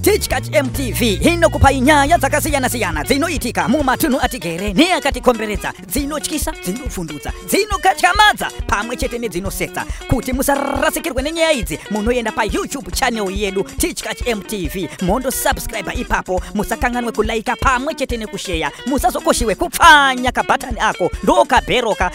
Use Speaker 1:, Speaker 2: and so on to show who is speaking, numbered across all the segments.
Speaker 1: Tichkach MTV inokupai nyaya dzakasiyana-siyana dzinoitika mumatunhu atigere neakatikomberedza dzinotyisa dzinofundudza dzinokatyamadza pamwe chete nedzinosetsa kuti musarasikirwe nenyaya idzi munoenda payoutube channel yedu Tichkach MTV mondo subscribe ipapo musakanganwe kulaika pamwe chete nekusheya musazokoshiwe kupfanya kabhatani ako ndokabheroka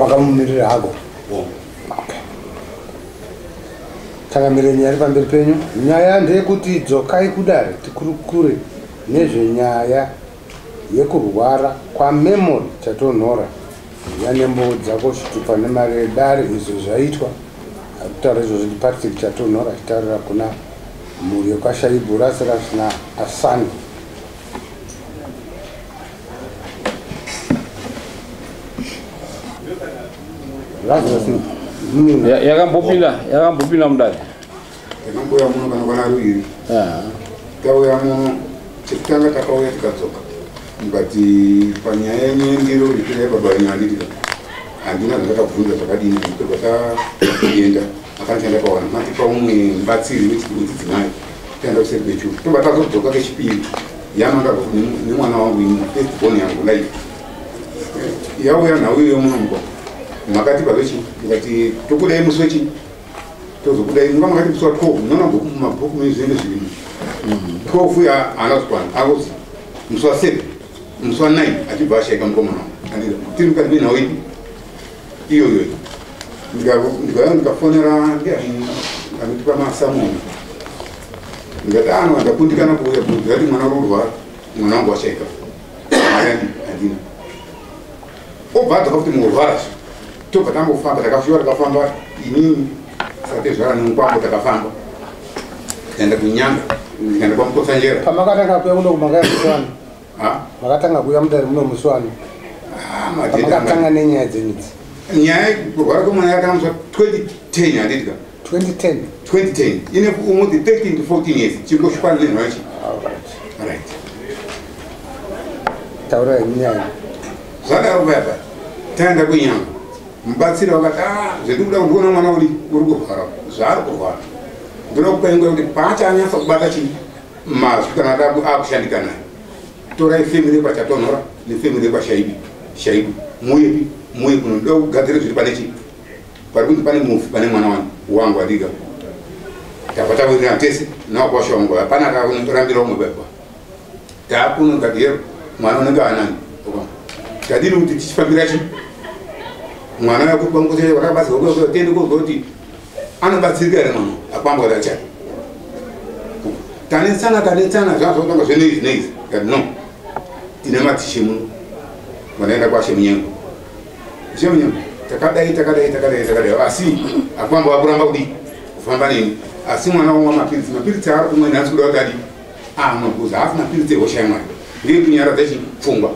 Speaker 2: wakamumirira hako takamire nyaya iri pamberi penyu nyaya ndeyekuti dzokai kudare tikurukure nezvenyaya yekurwara kwamemory chatonhora vane mbowo dzako chitupa nemari yedare izvo zvaitwa akutaura izvozvo ndipatrick chatonhora achitaurira kuna mhuri yekwashaibu rasi rasina asani yakambopinda
Speaker 3: yakambopinda mudare Takambouya
Speaker 4: muno kana kwana ruviri. Ah. Tauya muno chekutanga takauya tikadzoka. But panyaya yenyu yendiro ndipira yebaba venyu handitika. Handina zvandakabvunza zvakadini ndipirwa taenda. Akati chandakawana matipa umwe mubatsiri wechidzimai. Taenda kuseri kwechuru. Tobva tazodzoka kechipiri. Yamanga nemwana wangu ini first born yangu life. Yauya nhau iyo muno mukwa. Makati pavechii? Ndikati tokudai musi wechii? tozobuda imi vamwe vati musi wa 12 munoona bhuku mumabhuku mune zvinenge zvirimo 12 uya haana kukwana akuti musi wa 7 musi wa 9 achibva ashaika mukomana andira tiri mukati menhau ipi iyoyo ndikauya ndikafonera ndiani anotipa masamoni ndikati ano andakundikana kuuya bhuku ndikati mwana uri kurwara mwana wangu washaika mari andina obva adzoka kuti murwara tobva tambofamba takafyiwa takafamba inini satezvara nemukwambo takafamba tikaenda kunyanga tikaenda kwamukotsanjera pamakatanga kuya muno
Speaker 2: kumakaya muswani makatanga kuya mudare muno muswani pamakatanga nenyaya dzenyu idzi nyaya
Speaker 4: kurwara kwemwana yakatanga muswa 2010 handidika 2010 2010 ine almost 13 to 14 years chingo shikwana ne mhachi all right
Speaker 2: all right taura nyaya zvaka uya
Speaker 4: pa tanda kunyama mubatsira wakati ah zvedu kuda kuona mwana uri uri kurwara zvaari kurwara ndoda kupa ingo kuti paacha anyasa kubata chi mazwi kana ataku akushandika naye torai family pa chatonora ne family pa shaibi shaibi muye muye kunoda kugadzira zviri pane chi pari kunzi pane mufi pane mwana wani wangu adiga tabva tawirirana tese nawakwasha wangu hapana akanorambira umwe baba taakuno ndikati yero mwana unenge anani tadini kuti tichifambira chi mwana yakubangochee wakabatsirwa kuyo tiende kozwa kuti anobatsirika here mwana apambwa racha tanetsana tanetsana zvazvotanga zveneizi neizi kati no tine matishe muno vanoenda kwashe munyengo Zvinyama takadai takadai takadai takadai asi akwamba wakuramba kudi kufamba neni asi mwana wangu mapiritsi mapiritsi aari kumwe nhasi kuda kudadi amwe kuzi haasi mapiritsi ehosha yamwana ndiye kunyaradza chi pfungwa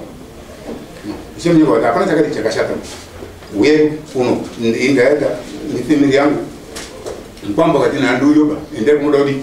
Speaker 4: zvinyama kuti hapana chakadii chakashata uye kuno ndaenda nefemiri yangu mkwamba kati nanduyoba endai kunoda kudii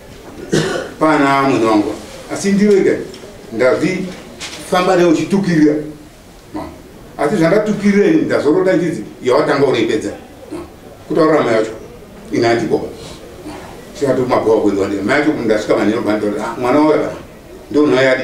Speaker 4: Pana amwene wangu asi ndirega ndazvifamba newe uchitukirira asi zvandatukirira ini ndazorota ndizi yawatanga unoipedza kutaurira mai yacho ini andikoba saka tokumabhowa kuendiwa ndira mai yacho ndasvika manhero bandoti ah, mwana wauya kana ndounoyadi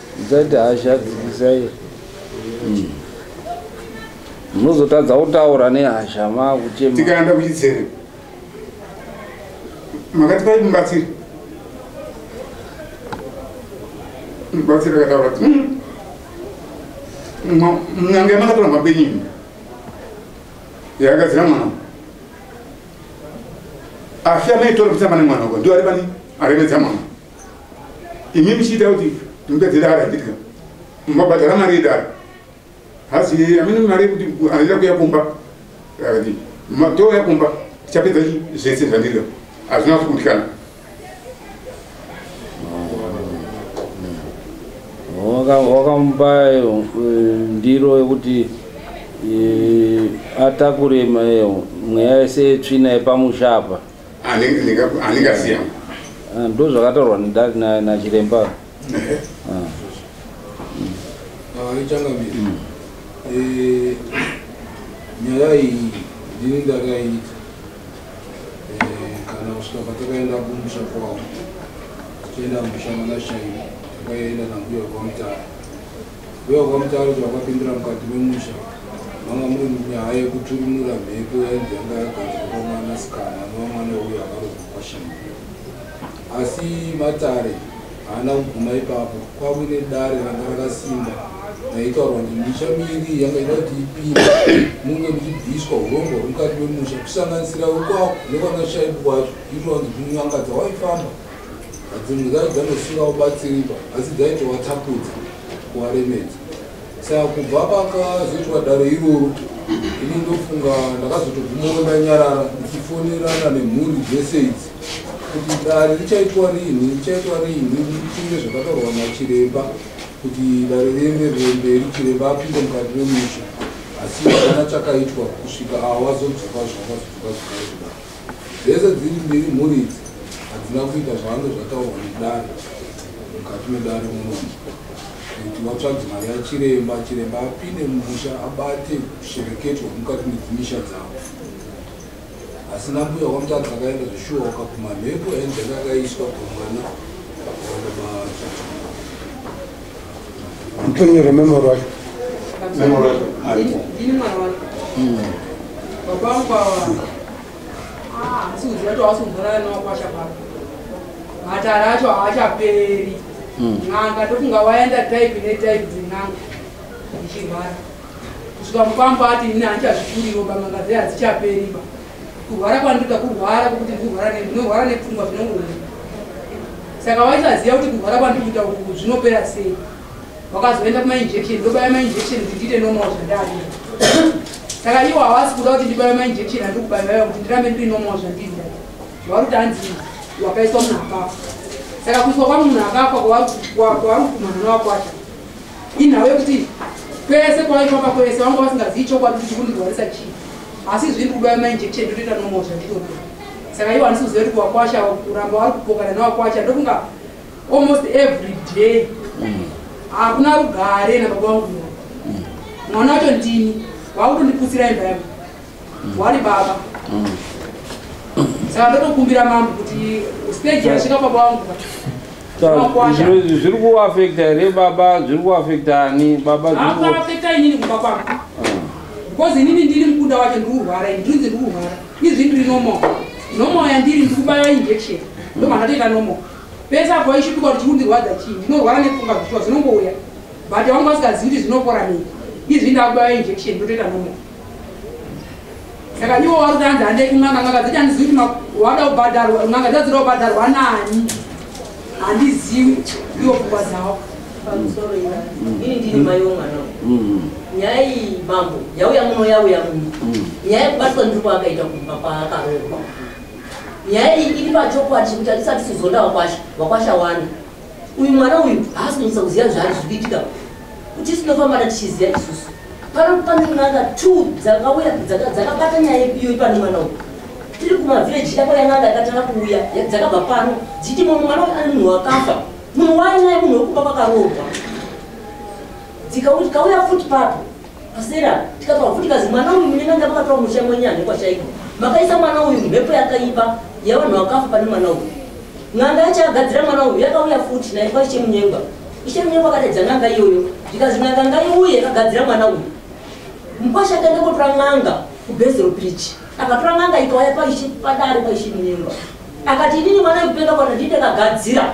Speaker 3: Zati hasha dzikisai. Mm. Munozotadza kutaura nehasha makuchema. Tikaenda kuchitsere.
Speaker 4: Makati pai mubatsiri. Mubatsiri akataura kuti mm. mnyange makatora mabenyini. Yakagadzira mwana. Afya maitora kutamba nemwana uko. Ndiwo ari pani? Arevedza mwana. imi muchiita kuti imba dzedara ndidya mabhadhara mari yedara hasi amene mari yekuti andida kuya kumba akati matouya kumba tichapedza zvese zvandidya hazvina kukundikana
Speaker 3: wakamupa eh, ndiro yekuti eh, atakure eh, mweya yese tsvina yepamusha apa
Speaker 4: aningasiya ah,
Speaker 3: ndo zvakataurwa nachiremba
Speaker 5: ah. ah, ichangamiri mm. eh, nyaya iyi ndini ndakaiita eh, kana kusvika patakaenda kumusha kwavo tichienda kumusha manashaiva takaenda nambuya kwamutara Uye wakamutaurira wakapindura mukati memusha manga muri munyaya yekuturunura mhepo yainzi yanga yagadzwa kwamwana sikana anova mwana uyo akarohwa kwashama asi matare haana kuguma ipapo kwave nedare ranga rakasimba raitaurwa kuti misha miri yanga ida kuti ipinde munge muchibviswa urombo hwemukati memusha kusanganisira wekwako nekwana shaibu kwacho inowanzi kunyangadza waifamba Dzimwe dzacho dzanosiira ubatsiripa asi dzaitova tapudza kuvaremedza saka kubva pakazoitwa dare iroro ini ndofunga ndakazotobvumawo ndanyarara ndichifonerana nemhuri dzese idzi kuti dare richaitwa rinhi richaitwa rinhi ndifunge zvakataurwa nachiremba kuti dare riende remberi chiremba apinde mukati memusha asi hapana chakaitwa kusvika awa vazodzoka zvavazodzoka zvaa Dzese dziri mbiri mhuri idzi hadzina kuita zvavange zvataurwa nedare mukati medare munomu kuti vatsvage mari yachiremba chiremba apinde mumusha abate kushereketwa mukati medzimisha dzavo asi nambuya wamutadzi akaenda zvishuwa wakapuma mhepo yainzenge akaiswa pamwana waana maaa
Speaker 2: Mtonyero memory wacho. Memory wacho. Ndini mwana wacho.
Speaker 6: Hmm. Baba wangu awa. Ah, msuzi wacho wasumvura no kwasha baba. Matara acho haachaperi. Hmm. N'anga ndofunga waenda type ne type dzin'anga. Ndichirwara. Kusvika mupamba ati ini handichazvikuriwo bamanga dzehadzichaperi ba. kurwara kwandoda kurwara kwekuti ndikurwara ndinorwara nepfungwa zvinongoona saka waisaziva kuti kurwara kwandikuita uku zvinopera sei wakazoenda kumainjection ndobaya mainjection kuti ndiite normal zvandadi saka iwo hawasi kuda kuti ndibaya mainjection andiri kubayaya kuti ndirambe ndiri normal zvandida wauri kuti hanzi wakaiswa munhu akafa saka kuiswa kwamunhu akafa kwavari kumanana wakwata inhau yekuti kwese kwaifamba kwese vanga vasingazivi chokwadi kuti chikundirwarisa chii asi zviri kuba mainjection ndotoita normal zvandinoda saka iwo handisi kuziva kuti kuwakwasha kuramba wari kupokana newakwasha ndokunga almost every day mm. hakuna mm. rugare nababa wangu mm. mwana wacho ndini wakutondiputsira imba yangu mm. wari baba mm. saka ndotokumbira mambo kuti stage yasvika baba wangu
Speaker 3: zviri kuafekta here baba zviri kuafekta ani baba zvirikuafekta inini kumba
Speaker 6: kwangu because inini ndiri mukunda wacho ndikurwara ini ndinzi ndikurwara izvi ndiri normal normal yandiri ndikubaya injection ndomandatoita normal pese apo aishutuka kuti chikundirwadza chii ndinorwara nepfungwa zvishuwa zvinongouya but wangu vasingazivi kuti zvinopora nei izvi ndakubaya injection ndotoita normal saka iwo wari kutanzi handei kun'anga n'anga dzacho handizivi kuti wada kubhadharwa n'anga dzadzira kubhadharwa nani handizivi iwo pfungwa dzavo pamusoro
Speaker 7: ina ini ndiri mai womwana mm. nyaya iyi mambo yauya muno yauya muno mm. nyaya yekubatwa ndiri kwaakaita kumba kwaakaroorwa nyaya iyi iri pachokwadi chekuti atisati sizoda wakwasha wakwasha wani uyu mwana uyu haasi kunyisa kuziva zvaari zviri kuitika kuti tinofambana tichiziva isusu pano pane n'anga two dzakauya dzakabata nyaya yepiyo ipano mwana uyu tiri kumavireji yako yan'anga yakatanga kuuya dzakabva pano dzichiti mumwe mwana uyu ane munhu wakafa munhu wainaye munhu wekuba kwakaroorwa dzikauti kauya futi papo Pasera tikapa kuti kazi mwana uyu mune manga makatora musha mwenyu ane kwashaiko. Makaisa mwana uyu mhepo yakaipa yavanhu vakafa pane mwana uyu. Nganga yachagadzira mwana uyu yakauya futi naye kwa ishe munyengwa. Ishe munyengwa akatedza nganga iyoyo. Ndikazi nganga ngaiuye akagadzira mwana uyu. Mkwasha akaenda kotora nganga kubhezero bridge. Akatora nganga ikauya paishe padare paishe munyengwa. Akati inini mwana uyu kuenda kwana ndinde kagadzira.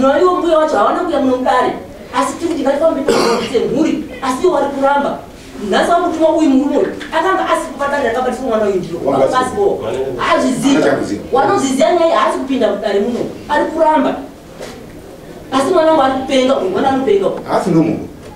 Speaker 7: noiwo mbuya wacho hawana kuya muno mudare asi tiri kuti ngatifambe semhuri asi iwo wari kuramba nhasi wamutuma uyu murume uyu akanga asi kupadare rakabatiswa mwana uyu ndiro asi bo hazviziva wanozviziva nyaya haasi kupinda mudare muno ari kuramba asi mwana wangu ari kupenga uyu mwana anopenga asi nomunhu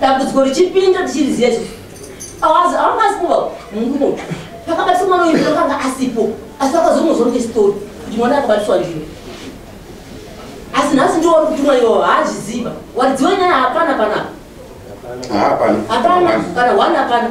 Speaker 7: dambudziko richipinda tichiriziva isu awangazimuva mungumo pakabatiswa mwana uyu akanga asipo asi vakazomuzwa ngestori kuti mwana akabatiswa ndiyo asi nhasi ndiwo wari kutumwa iwo haazviziva waridziwa nyaya hapana panapa hapana kana one hapana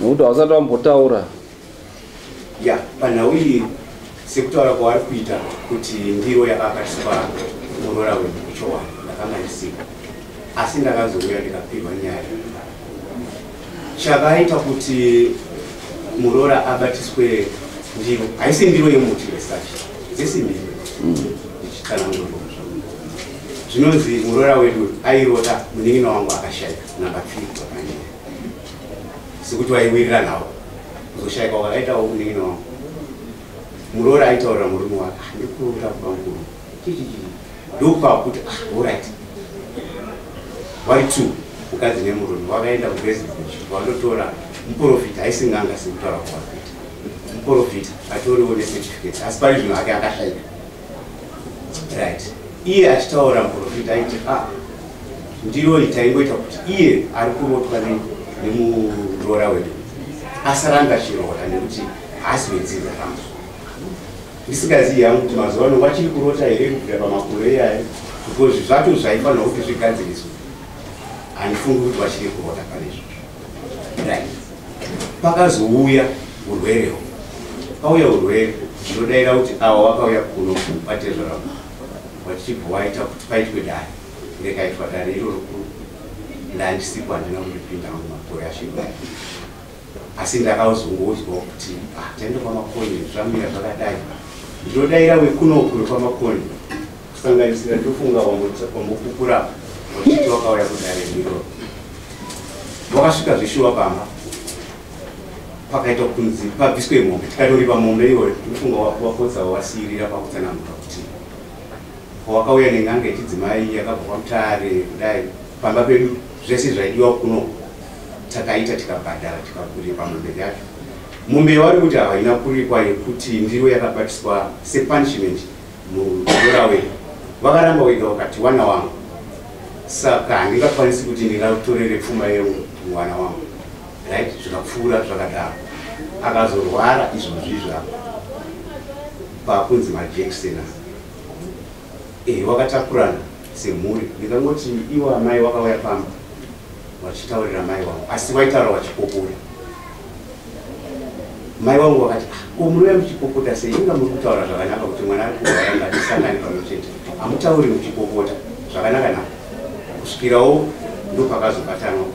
Speaker 3: nokuti hausati wambotaura
Speaker 8: ya panhau iyi sekutaura kwavari kuita kuti ndiro yakakatiswa muroora wedu kuchowa ndakanga ndisiko asi ndakazouya ndikapihwa nyaya chakaita kuti muroora abatiswe ndiro haisi ndiro yemuti yesachi dzesimbi ndichitsanangura zvinonzi muroora wedu airota munin'ina wangu akashaika namba three sekuti waiwirira nhau kuzoshaika wakaitawo kunenge no muroora aitaurira murume wake ah, ndikuroora kuba mukuru ndokupa kuti ah, orit wari two mukadzi nemurume wakaenda kuresidence wandotora muprofita aisinganga sekutaura kwakuita muprofita atoriwo necertificate asi pari zvino ake akashaika right iye achitaura muprofita aiti a ah, ndiyo itaingoita kuti iye ari kurotwa nemuroora wedu asaranga chiroora nekuti haasi wedzidza rangu ndisingazivi yangu kuti mazuva ano vachiri kurota here kubvira pamakore iyayo because zvacho zvaifanira kuti zvigadziriswe handifungi kuti vachiri kurota pane izvozvo pakazouya urwere ho pauya urwere ndinodaira kuti awa wakauya kuno vatezvara vachibva waita kuti paitwe dare rekaitwa dare iroro kuru ndandisipo handina kundipinda mumakore ashiva asi ndakazongouzwa kuti ah, taenda kwamakoni zvamira zvakadai ndinodaira wekunoku wekwamakoni kusanganisira ndofunga wambokukura vachiti wakauya kudare ndiro wakasvika zvishuwa pamba pakaita kunzi pabviswe mombe tikatoripa mombe iyoyo ndofunga wapotsa wasiirira pakutsananguka kuti wakauya nenganga yechidzimai yakabva kwamutare kudai pamba pedu zvese zvaidiwa kuno takaita tikabhadhara tikakuripa mombe yacho mombe yavari kuti havaina kuripwa yekuti ndiro yakabatiswa sepunishment muurawe vakaramba wega wakati wana wangu saka handingakwanisi kuti ndingatorere pfuma yemwana wangu right zvikapfuura zvakadaro akazorwara izvozvi zvako pakunzi majekisena ehe wakatakurana semhuri ndikangoti iwo amai wakauya pamba wachitaurira mai wangu asi waitaura wachipopora mai wangu wakati ko ah, munouya muchipopota sei inga muri kutaura zvakanaka kuti mwana ari kurwara ngatisangani pamwe chete hamutauri muchipopota zvakanaka na kusvikirawo ndo pakazobatanwa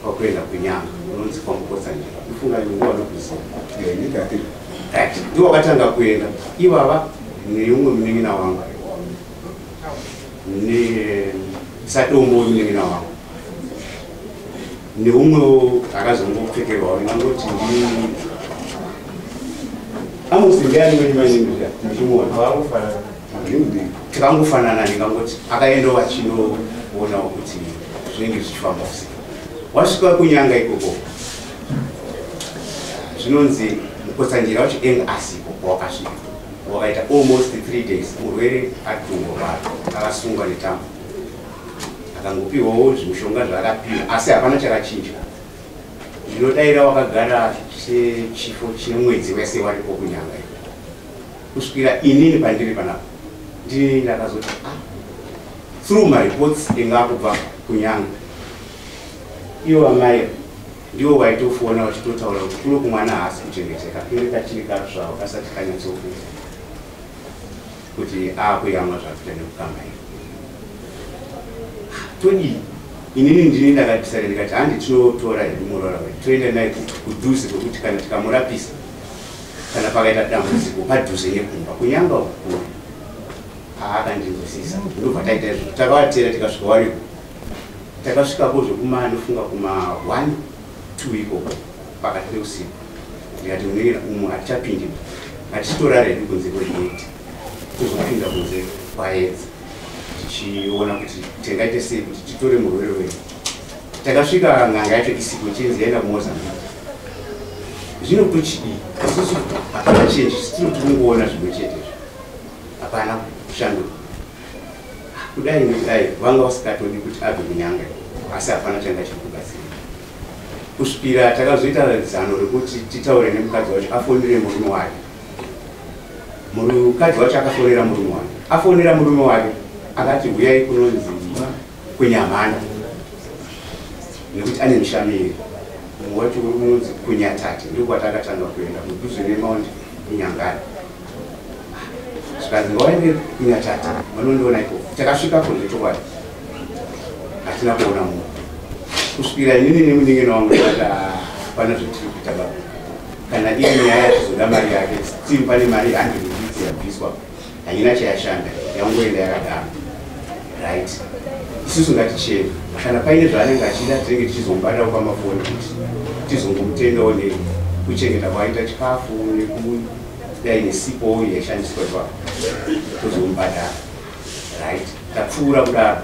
Speaker 8: kwakuenda kunyanga unonzi kwamupotsa nje ifunga nguva nokuziva ndiwo akatanga kuenda ivava neumwe munin'ina wangu nesatombo munin'ina wangu neumwewo akazongopfekerwawo ndingangoti ndi amosi ndiani wenyu mainimira ndichimona tikangofanana ndingangoti akaendawo vachinoonawo kuti zvinenge zvichifamba kusi wasvika kunyanga ikoko zvinonzi mukotsanjira wacho eng asiko kwawakasvika wakaita almost three days murwere ari kungorwara akasungwa netambo akangopiwawo zvimushonga zvaakapiwa asi hapana chakachinja ndinodaira wakagara chechifo chemwedzi wese waripo kunyanga kusvikira inini pandiri panapa ndini ndakazoti ah, through mareports inga kubva kunyanga ivo vamai ndivo vaitofona vachitotaura kuti kuno kumwana haasi kuchengeteka kunge kachiri katsvavo kasati kanyatsokufa kuti akuyamwa zvakuita nekukamba iyo todii inini ndini ndakapisana ndikati handi tinotora hedu muroora wedu toenda naye kudhuze kwekuti kana tikamurapisa kana pakaita dambudziko padhuze nekumba kunyanga ukuru aakandinzwisisa ndobva taita izvozvo takavatera tikasvika wariko takasvikapo zvekuma anofunga kuma one two ikoko pakati peusiku ndikati munoira umu hatichapindi hatichitorara hedu kunze kwegeti tozopinda kunze kwaedza tichiona kuti tingaite sei kuti titore murwere wedu takasvika nganga yacho isipo chinzi yaenda kumozambique zvino kuchidii isusu hapana chinji sitino tikungoona zvimwe chete izvo hapana kushanduka kudai nekudai vanga vasikatodi kuti abve kunyanga asi hapana changa chiri kubatsira kusvikira takazoita zano rekuti titaure nemukadzi wacho afonere murume wake mukadzi wacho akafonera murume wake afonera murume wake akati huyai kunonzi kunyamhanda nekuti ane mushamiri mumwe wacho unonzi kunyatate ndiko kwatakatanga kuenda mudhuze nemaundi kunyangana zvikanzi ngawaende kunyatati vanondiona iko takasvika ko zvechokwadi hatina kuona munhu kusvikira inini nemuningino wangu ata pana zvetiri kuita baba kana iye nyaya yachizoda mari yake still pane mari andiriidzi yabviswa haina chayashanda yangoenda yakadaro right isusu ngaticheni kana paine zvaanenge achida tinenge tichizomubata kwamafoni kuti tizongomutendawo ne kuchengeta kwaita chikafu neku dai nesipo yaishandiswa ipapo tozomubhadhara right tapfuura kudaro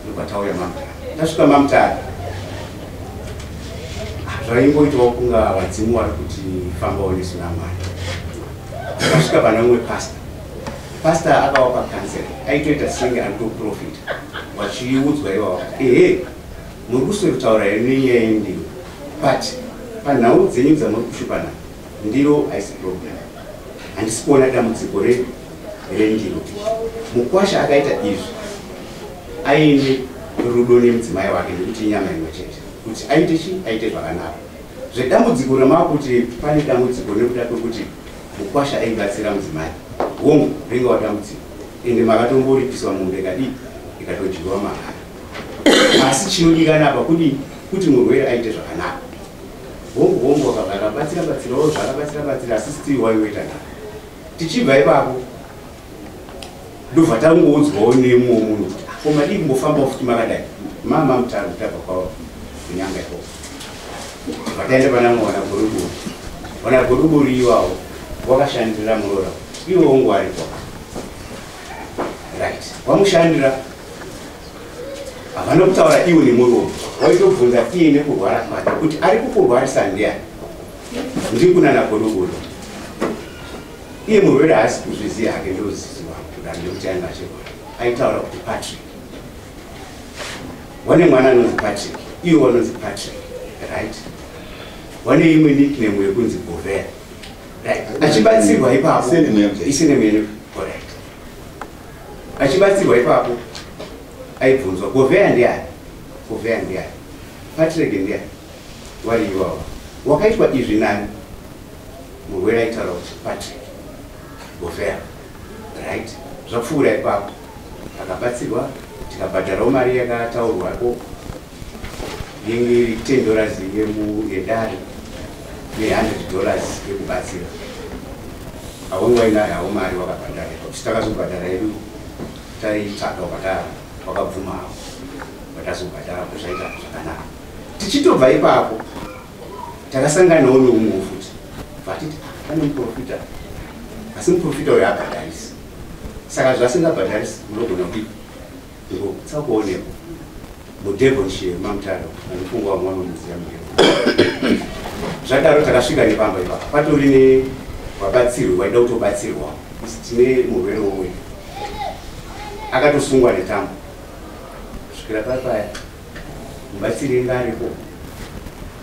Speaker 8: ndobva tauya mamutare tasvika mamutare ah, zvaingoitawo kunga vadzimu vari kuti famba onesu namwari tasvika pana umwe pasta pasta akawa pakansel aitoita senge ari kutoprofita vachiudzwa iwawa ehe muri kuswekutaura here nenyaya yendiwo but panhau dzenyu dzamuri kushupana Ndiro haisi problem. Handisi kuona dambudziko re rendiro. Mukwasha akaita izvi aine rudo nemudzimai wake nekuti inyama imwe chete. Kuti aite chi aite zvakanaka. Zvedambudziko remava kuti pane dambudziko nekuda kwekuti mukwasha aibatsira mudzimai. Hongu, ringa wadambudziko. Ende makatomboripiswa mombe kadii ikatojirwa mahara. Asi chinodikana apa kudii kuti murwere aite zvakanaka. hongu hongu wakabva akabatsira batsirawo zvaakabatsira batsira asi still waiweta na tichibva ipapo ndobva tangoudzwawo nemumwe munhu kuti ah, ko madii kumbofambawo futi makadai mama mutano tabva kwavo kunyanga ikoko vakaenda pana mwana goruburi mwana goruburi iwawo wakashandira muroora iwo ngwari kwa right wamushandira havana kutaura iwo nemuromo waitobvunza iye nekurwara kwake kuti ari kukurwarisa ndiani ndiri kunana godogodo iye murwere haasi kuzviziva hake ndoziziva kudaro nekuti ainge achirwara aitaura kuti patrick wane mwana anonzi patrick iwe wanonzi patrick right wane imwe nickname yekunzi govera achibatsirwa ipapo isenemeneorit achibatsirwa ipapo aibvunzwa govheya ndiani govheya ndiani patirege ndiani wari iwawa wakaitwa izvi nani murwere aitaura kuti patrick govheya right zvapfuura ipapo akabatsirwa tikabhadharawo mari yakataurwako yenge iri 10 dollars yedare ne100 dollars yekubatsira haunge wainayo hau mari wakabhadhara kuti takazobhadhara yedu taitsvaga ukatara wakabvuma havo vatazobhadhara kuti zvaita zvakanaka tichitobva ipapo takasanganawo neumwe futi vatiti pane muprofita asi muprofita uyo abhadharisi saka zvasingabhadharisi munogona kudii Ndiko kutsa kuonekwa. Mu Devonshire mamutaro anofungwa vamwe vanomuziva mugero. Zvadaro takasvika nepamba ipapa. Patori ne vabatsirwi vaida kutobatsirwa. Tine murwere womwe. Akatosungwa netambo. Kusvikira papaya. Mubatsiri inga aripo.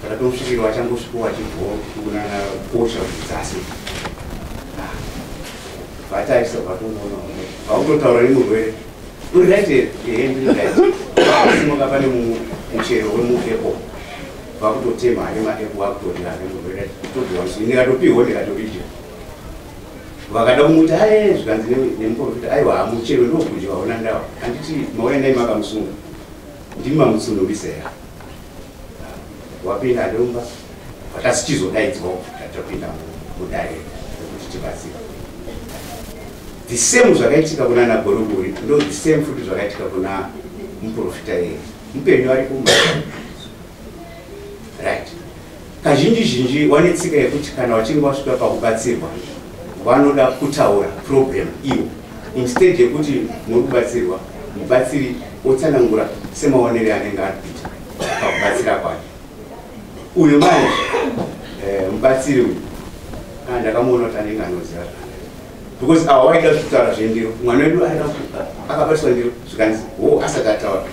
Speaker 8: Takatomsvikirwa achangosvikowa chibho kunana kosha kudzasi. Vatarisa vatongoona vautotaura nemurwere. Uri right here? Ehe ndiri right. Simuka pane muchero wemuapple. Vakutotema ane maapple vakutorira ane murwere. Tobhiwa msini ndikatopihwa ndikatoridya. Vakada kumuti aye zvikanzi nemuprofita aiwa muchero ndokudya waona ndawa. Handiti maona ndai makamusunga. Ndimi mamutsunurisa here? Wapinda ndomba. Vakasichizodaidzwa tapinda mudare kuti tibatsira. The same zvakaitika kuna na Gorogori ndo the same futi zvakaitika kuna muprofita yeye mupenyu ari kumba right kazhinji zhinji wane tsika yekuti kana wachinge wasvika pakubatsirwa vanoda kutaura problem iwo instead yekuti muri kubatsirwa mubatsiri otsanangura semaonere anenge ari kuita pakubatsira kwake uyu manje eh, mubatsiri uyu ah, ndakamuona kuti anenge anoziva zvaa because awa waida kutaura zvendiro mwana wedu aida akabatiswa ndiro zvikanzi wo asati ataura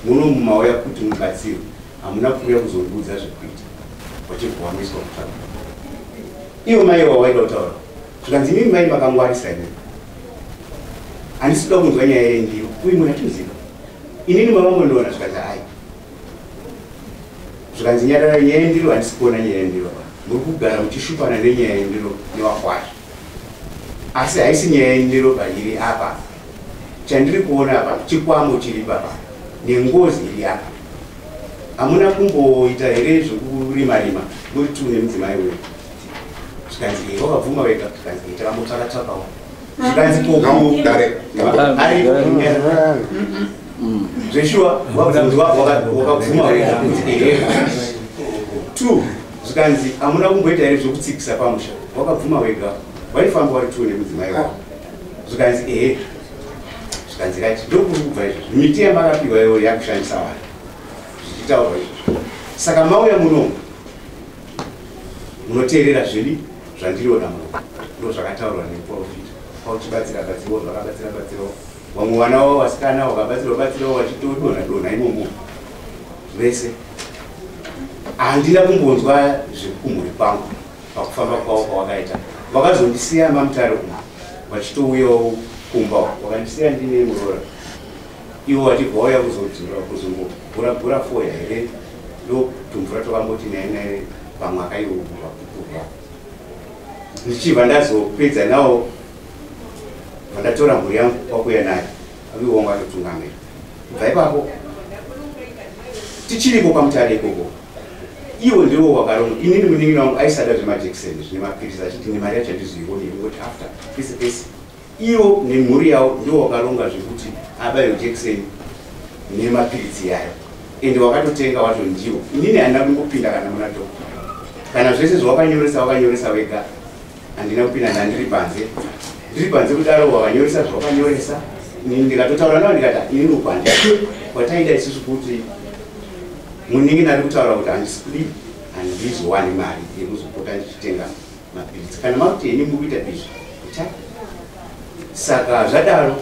Speaker 8: muno mumauya kuti mubatsiro hamuna kuuya kuzondiudza zvekuita wachibva wamiswa kutsvaka iwo mai wawaida kutaura zvikanzi imimi mai makangwarisa ini handisida kunzwa nyaya yendiro uyu munhu atimuziva inini mavamondona zvikanzi ai zvikanzi nyarara nyaya yendiro handisikuona nyaya yendiro muri kugara muchishupana nenyaya yendiro newakwazvo asi haisi nyaya yendiro pairi apa chandiri kuona apa chikwamo chiri baba nengozi iri apa hamuna kumboita here zvekurima rima muri tu nemudzimai wedu zvikanzi hei vakabvuma vega zvikanzi hei takambotsvaka tsvakawo zvikanzi kokudare ari zveshuwa wabvunzi wako wakabvuma wega kuti ehe two zvikanzi hamuna kumboita here zvekutsikisa pamusha wakabvuma wega waifamba wari tuu nemudzimai wako zvikanzi ehe zvikanzi kati ndokuri kubva izvo miti yamakapiwa iwo yakushandisa vanhu zvichitaurwa izvozvo saka mauya munomu munoteerera zviri zvandiriona muno ndo zvakataurwa neprofita pauchibatsira batsirawo zvakabatsira batsirawo vamwe vana wavo vasikana wakabatsira batsirawo wachitodonha donha imomo vese handina kumbonzwa zvekumhuri kwangu pakufamba kwavo kwawakaita vakazondisiya mamutare umu vachitouyawo kumba vakandisiya ndine muroora ivo vachibva vauya kuzodzura kuzongoguragura foya here ndotumvura twakamboti naye naye pamwe akaiuva kupuva ndichibva ndazopedza nawo vandatora mhuri yangu kwakuya nayo Aviwa wangu atotungamira. Bva ipapo. Tichiripo pamutare ikoko. Iwo ndiwo wakaronga. Ini ndimunin'ina wangu aisada zvemajekiseni zvine mapiritsi achiti nemari yacho handizoione ingoti after pese pese. Iwo nemhuri yawo ndiwo wakaronga zvekuti abayo jekiseni nemapiritsi yayo. Ende wakatotenga wacho ndiwo. Inini handina kumbopinda kana muna dhokota. Kana zvese zvawakanyoresa wakanyoresa wega. handina kupinda ndandiri panze ndiri panze kudaro wakanyoresa zvawakanyoresa ndikatotaura navo ndikata ini ndokwandia kwataida isusu kuti muningi nari kutaura kuti handisidi handizowani mari yekuzopota ndichitenga mapiritsi kana makuti ini mukuita izvi ta saka zvadaro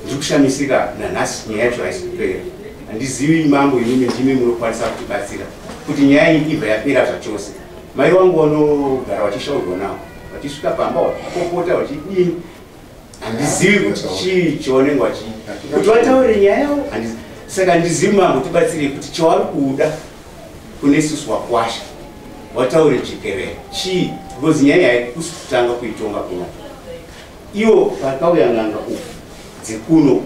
Speaker 8: ndiri kushamisika nanhasi nyaya yacho haisipera handizivi mambo inimi ndimi munokwanisa kutibatsira kuti nyaya iyi ibva yapera zvachose Mai wangu vanogara vachishaurwa navo vachisvika pamba vakopota vachidini handizivi kuti chii chavanenge vachii kuti vataure nyaya yavo saka handizivi mambo tibatsirei kuti chavari kuda kune susu wakwasha wataure chikerera chii because nyaya yaikusi kutanga kuitonga kuno iwo pakauya n'anga uku dzekuno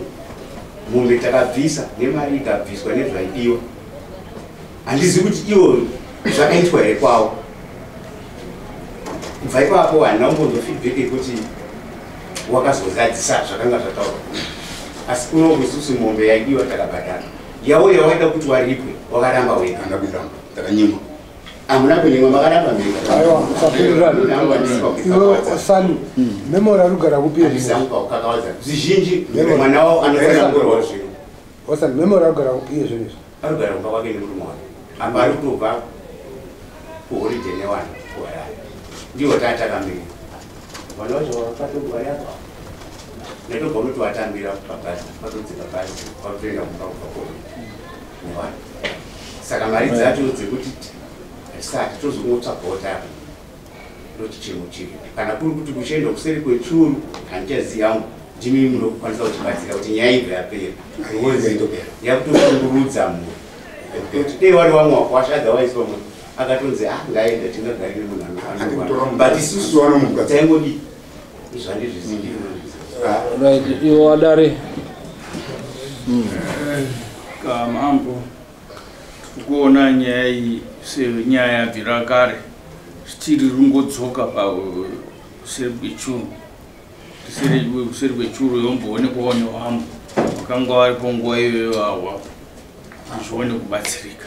Speaker 8: mombe takabvisa nemari ikabviswa nezvaidiwa handizivi kuti ivo zvakaitwa here kwavo kubva ipapo handina kumbonzwa feedback yekuti wakazozadzisa zvakanga zvataurwa asi kunoku isusu mombe yaidiwa takabhadhara yavo yawaida kuti waripwe wakaramba wega handa kuramba takanyimwa hamuna kunyimwa makaramba mbeaaiwasani
Speaker 2: hmm. memori anogara kupiaisaupa kukakavadza
Speaker 8: zvizhinji mwana wavo anofanira kugorwa zvino Osan memory
Speaker 2: agara kupi iye zvinhu izvi? Ari kugara kumba kwake
Speaker 8: nemurume wake. Apa ari kutobva kuholiday newani kuHarare. Ndiwo taatakamira. Vanhu vacho vakatogwari apa. Ndaitobva unoti watambira pabhazi, patodzika bhazi, kwakutoenda kumba kubva kona newani. Saka mari dzacho dzekuti hatisati tozokungotsvagawo tava. ndoti chimwe chinhu kana kuri kuti kuchienda kuseri kwechuru handichazivi yangu ndimi munokwanisa kutibatsira kuti nyaya ibva yapera yakutoshungurudza mhuri kuti dei wari wamwe wakwasha otherwise vamwe akatonzi a ah, ngaenda tingagari nemunhu anofanobut isusu vanomuka taingodi zvandizvizivi
Speaker 3: ivo wadari
Speaker 9: kamambo tikuona nyaya iyi senyaya yabvira kare zvichiri rungodzoka pauseri kwechuru useri kwechuru yomboonekwawo newambo vakanga varipo nguva iyoyo awa hazvione kubatsirika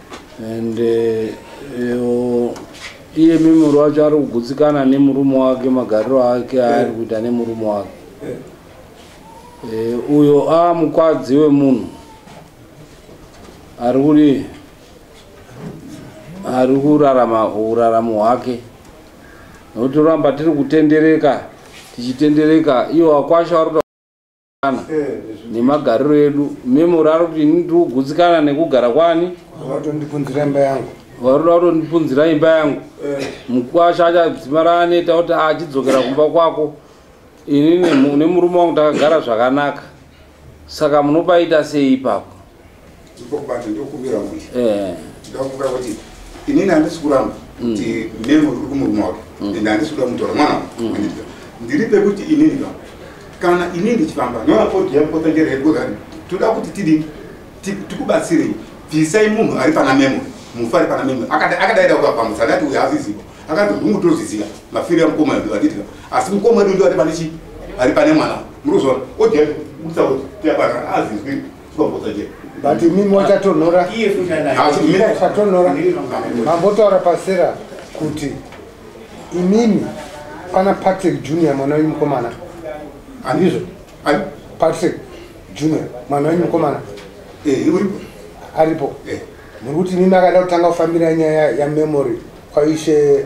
Speaker 3: and eh, eh, iye mimuri wacho ari kugutsikana nemurume wake magariro ake aari kuita nemurume wake eh, uyo a mukwadzi wemunhu ari kuri ari kurarama uraramo hwake nokuti ramba tiri kutendereka tichitendereka iwo akwasha ari nemagariro edu memory ari kuti ini ndiri kugutsikana nekugara kwani vatondipunzira imba
Speaker 2: yangu varoda kutondipunzira
Speaker 3: imba yangu eh. mukwasha achadzima raaneta kuti achidzokera kumba kwako ini nemurume wangu takagara zvakanaka saka munopaita sei ipapo Ndipo kubata ndokumbira kuti. Eh.
Speaker 4: Tida kumbira kuti inini andisi kuramba mm. kuti memo uri kumurume wake mm. ende andisi kuda kumutora mwana mm. ndiri pekuti inini ka kana inini ndichifamba noaotiyakotangereekozani toda kuti tidii tikubatsirei bvisai munhu ari pana memo mufa ari pana memo akadaida kukapamutsa adati uyo aziziva akati hungu tozviziva mafiro yamukoma edu atitika asi mukoma edu ndo ari pane chii ari pane mwana murikuzona otiyakuisa kuti tiabara azizwi but imi
Speaker 2: mochatonhora chatonhora mambotaura pasera kuti imimi pana patrick junior mwana wenyu mukomana andizvo patrick junior mwana wenyu mukomana eh, aripo eh. muri kuti imimi akada kutanga kufambira nyaya yamemory kwaishe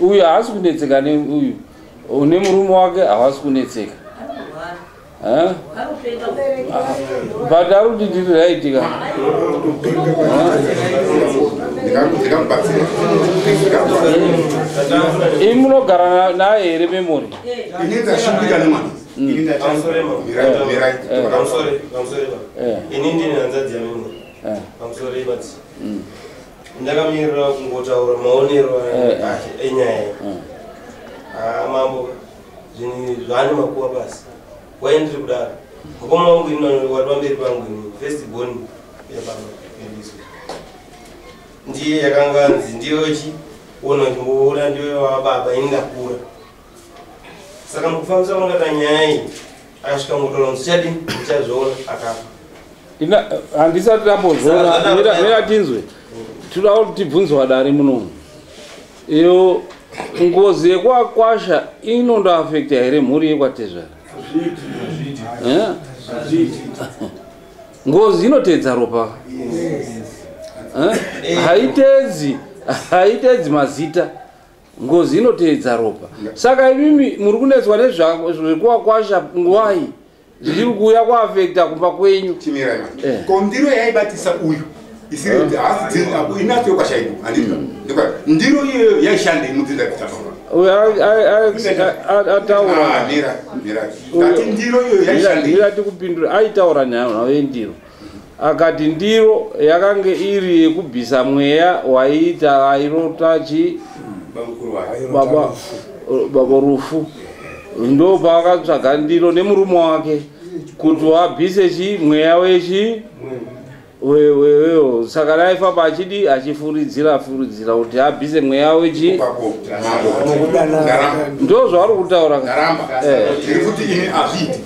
Speaker 3: uyu haasi kunetseka neuyu une murume wake havasi kunetseka but ari kuti ndiri raitika imi munogara naye here memori ini ndine hanzadzi yamemori
Speaker 10: pamusoro ivati ndakamirira kungotaura maonero eh, eh. enyaya mm. ah, mambo zvinhu zvaane makuva basi wai ndiri kudaro mukoma wangu ini wari pamberi pangu ini first born yababa yandiswa ndiye yakanganzi ndiyo chi ona chimboona ndiyo wababa ini ndakura saka mukufambisa kwakaita nyaya iyi akasvika ngotora muzichadi
Speaker 3: muchazviona akafa handisati tambozviona tinzwe tinoda kuti tibvunzwa dare munomu iyo ngozi yekwakwasha inondoafekta here mhuri yekwatezvara eh? ngozi inotedza ropa eh? haitedzi haitedzi mazita ngozi inoteedza ropa saka imimi muri kunetswa nezvekuwakwasha ngwai zvichiri kuuya kuafekta kumba kwenyu eh. ko ndiro
Speaker 4: yaibatisa uyu isiri kuti haasi inacho yokwashaidu anditi mm. ndiro iyoyo yaishande imudzinza kutafaa
Speaker 3: ataura ah,
Speaker 4: ndiro iyoyo yaishande ndiro aitaura
Speaker 3: nhayo nhayo yendiro Akati ndiro yakange iri yekubvisa mweya waiita vairota chi baba baba rufu ndo paakatsvaga ndiro nemurume wake kuti wabvise chi mweya wechi wewewo saka naifamba achidi achifuridzira furidzira kuti abvise mweya wechi ndo zvauri kutaura ka? Ndaramba. Eh. Ndiri
Speaker 4: kuti ini azviiti.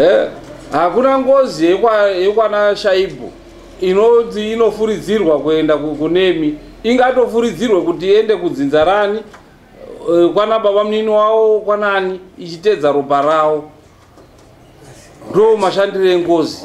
Speaker 3: eh, hakuna ngozi yekwana shaibu inoti inofuridzirwa kuenda kunemi ingatofuridzirwe kuti iende kudzinza rani eh, kwana baba munini wawo kwanani ichitedza ropa rawo ndo mashandiro engozi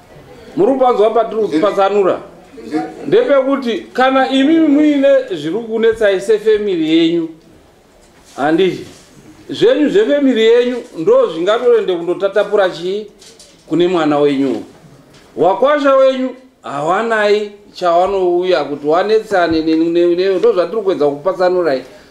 Speaker 3: muri kupanzwa patiri kutwasanura ndepekuti kana imi muine zviri kunetsai sefemiri yenyu handizvi zvenyu zvefemiri yenyu ndo zvingatorende kundotatapura chii kune mwana wenyu wakwasha wenyu hawanai chawanouya kuti wanetsane neu ndo zvatiri kuedza kupatsanurai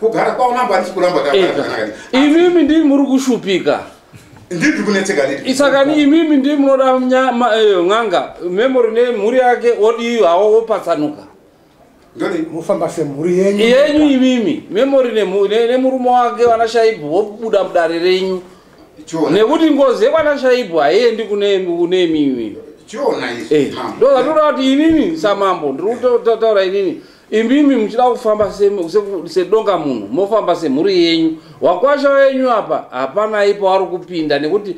Speaker 4: kugara kwavo mambo andisi kuramba eh, imimi
Speaker 3: ndiri muri kushupika ndiri
Speaker 4: kunetseka isakani imimi
Speaker 3: ndiri munoda eh, n'anga memory nemhuri yake odiyo hawo wopatsanuka
Speaker 2: mofamba semhuri yenyu yenyu imimi
Speaker 3: memory nemurume wake vana shaibhu wobuda mudare renyu nekuti ngozi yekwana shaibhu haiendi kune imimi eh, ndozvatoda kuti inini samambo ndiri kutaura inini Imimi muchida kufamba sedonga munhu mofamba semhuri yenyu. Wakwasha wenyu apa hapana ipo wari kupinda nekuti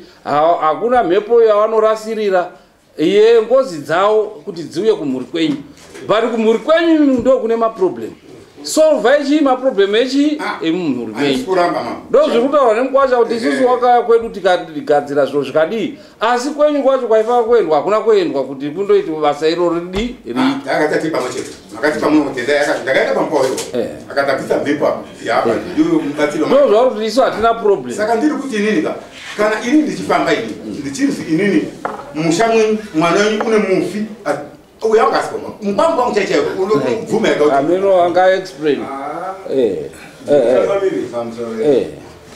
Speaker 3: hakuna mhepo yavanorasirira ye ngozi dzawo kuti dziuye kumhuri kwenyu. But kumhuri kwenyu ndo kune maproblem. Solvai chii maproblem echii ah, emumhuri kwenyu. Ndozviri kutaurwa nemukwasha kuti isusu wakaya kwedu tikagadzira zviro zvikadii. asi kwenyu kwacho kwaifaa kuendwa hakuna kuendwa kuti kundoiti basa iro ridi riakatati ah, pamwe
Speaker 4: chete akati pamwe kutenda yakati ndakaenda pamba uyo eh. akatabvisa mhepo apo yaapa eh. ndiyo mubatsiro ndo zvava kuti isu hatina
Speaker 3: problem saka ndiri kuti inini ka
Speaker 4: kana ini ndichifamba ini ndichinzi inini musha mwenyu mwana wenyu une mufi uya ungasikoma mukwangu kwangu chai chaiwo unobvuma yakakuti ameno anga explain
Speaker 3: Ah, eh eh eh family famsoro eh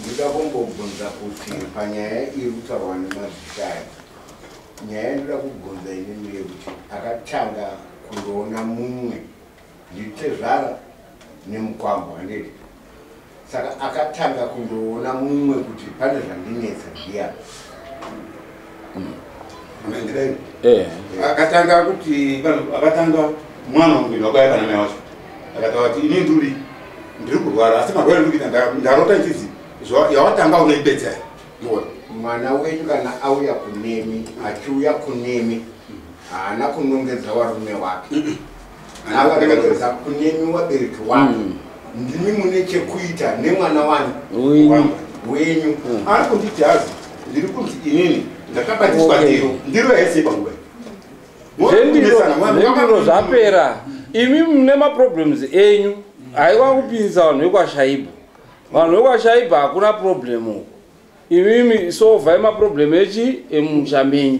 Speaker 11: ndikakombobvunza kuti panyaya iri kutaurwa nemazishaya nyaya inoda kubvunza inini yekuti akatanga kundoona mumwe nditezvara nemukwambo handiti saka akatanga kundoona mumwe kuti pane zvandinetsa ndiya eh.
Speaker 4: akatanga kuti akatanga mwana wangu ndakauya kana mai wacho akataura kuti ini nduri ndiri kurwara asi marwara ndiri kuita ndarota nchizi yawatanga unoipedza mona mwana
Speaker 11: wenyu kana auya kunemi achiuya kunemi haana kunongedza warume wake akaeeza kunemi wabereki wako mm. ndimi mune chekuita nemwana wani wenyu mm. ari kunditi
Speaker 4: hazi ndiri kunzi inini ndakabatiswa ndiro ndiro yaisei panguva
Speaker 3: zvendiro zvapera imi mune maproblems enyu haiwa kupinzisa vanhu vekwashaiba vanhu vekwashaiba hakuna problem uko imimi sovhai maproblem echi emusha menyu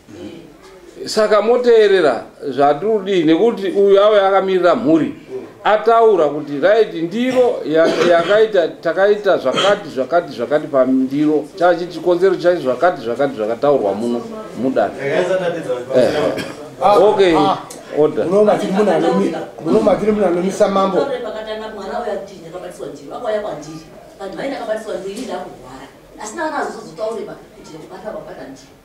Speaker 3: saka moteerera zvatirudii nekuti uyu ave akamirira mhuri ataura kuti right ndiro yakaita takaita zvakati zvakati zvakati pandiro chachi chikonzero chacho zvakati zvakati zvakataurwa muno mudana eh. okay ah. order munomatiri munhu anomisa
Speaker 2: mambo asi naana azozotaureba kuti kubata babata ndiro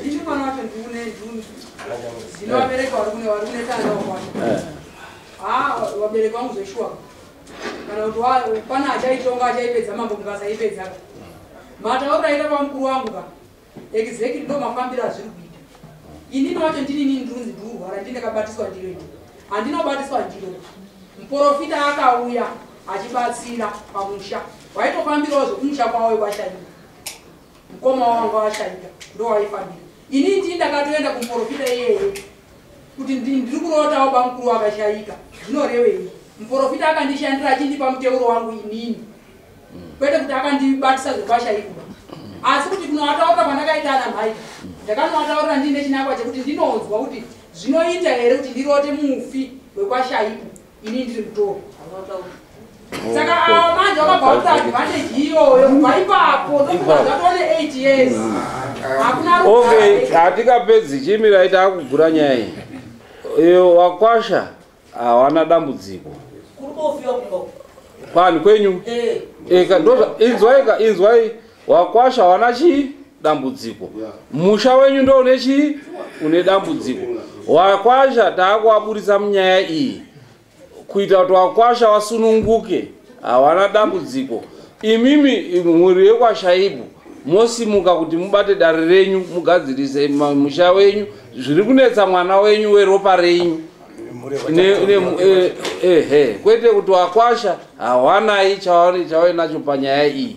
Speaker 6: Ndini mwana wacho ndiune nduni. Ndinowabereka wari kune wari kune tanda wakwacho. Eh. Ah, wabereka wangu zveshuwa. Kana kuti wa pana achaitonga achaipedza mambo mukasa ipedza. Mata wakaita kwa mkuru wangu ka. Exactly ndo mafambira azviri kuita. Ini wacho ndini nini ndunzi nduru wara ndine kabatiswa ndiro ini. Andina batiswa ndiro. Mporofita akauya achibatsira pamusha. Waitofambirawo zvokumusha kwawo kwashaini. mukoma wangu ashaika ndowaifambira ini ndii ndakatoenda kumuporofita iyeye kuti ndiri kurotawo bamukuru wakashaika zvinorevei muporofita akandishandira achindipa muteuro wangu inini kwete kuti akandibatisa zvepashaikuba asi kuti kunovataurira kwandakaita ana mhai ndakanovataurira ndiine chinangwa chekuti ndinonzwa kuti zvinoita here kuti ndirote mufi wekwashaiku ini ndiri kutora saka awo manje wakabvakuta advantage iyoyo kubva ipapo ndokuazatone 8 years hakuna okay
Speaker 3: hatikapedzi chimirai taakugura nyaya iyi iyo wakwasha hawana dambudziko kwani kwenyu eh. Eh, inzwaika inzwai wakwasha hawana chii dambudziko musha wenyu ndo une chii une dambudziko wakwasha taakuwaburitsa munyaya iyi kuita kuti wakwasha wasununguke hawana dambudziko imimi mhuri yekwashaibu mosimuka kuti mubate dare renyu mugadzirise ma- musha wenyu zviri kunetsa mwana wenyu weropa renyu Ne- ne- eh, eh, eh, kwete kuti wakwasha hawanai chawainacho panyaya iyi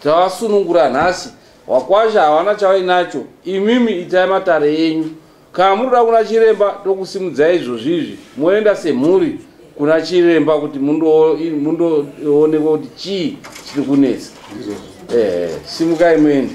Speaker 3: Tawasunungura nhasi. Wakwasha hawana chawainacho. Imimi itai matare enyu. Kana munoda kuna chiremba tokusimudzai izvozvizvi moenda semhuri kuna chiremba kuti mundoonekwa kuti chii chiri kunetsa. Eh, simukai muende.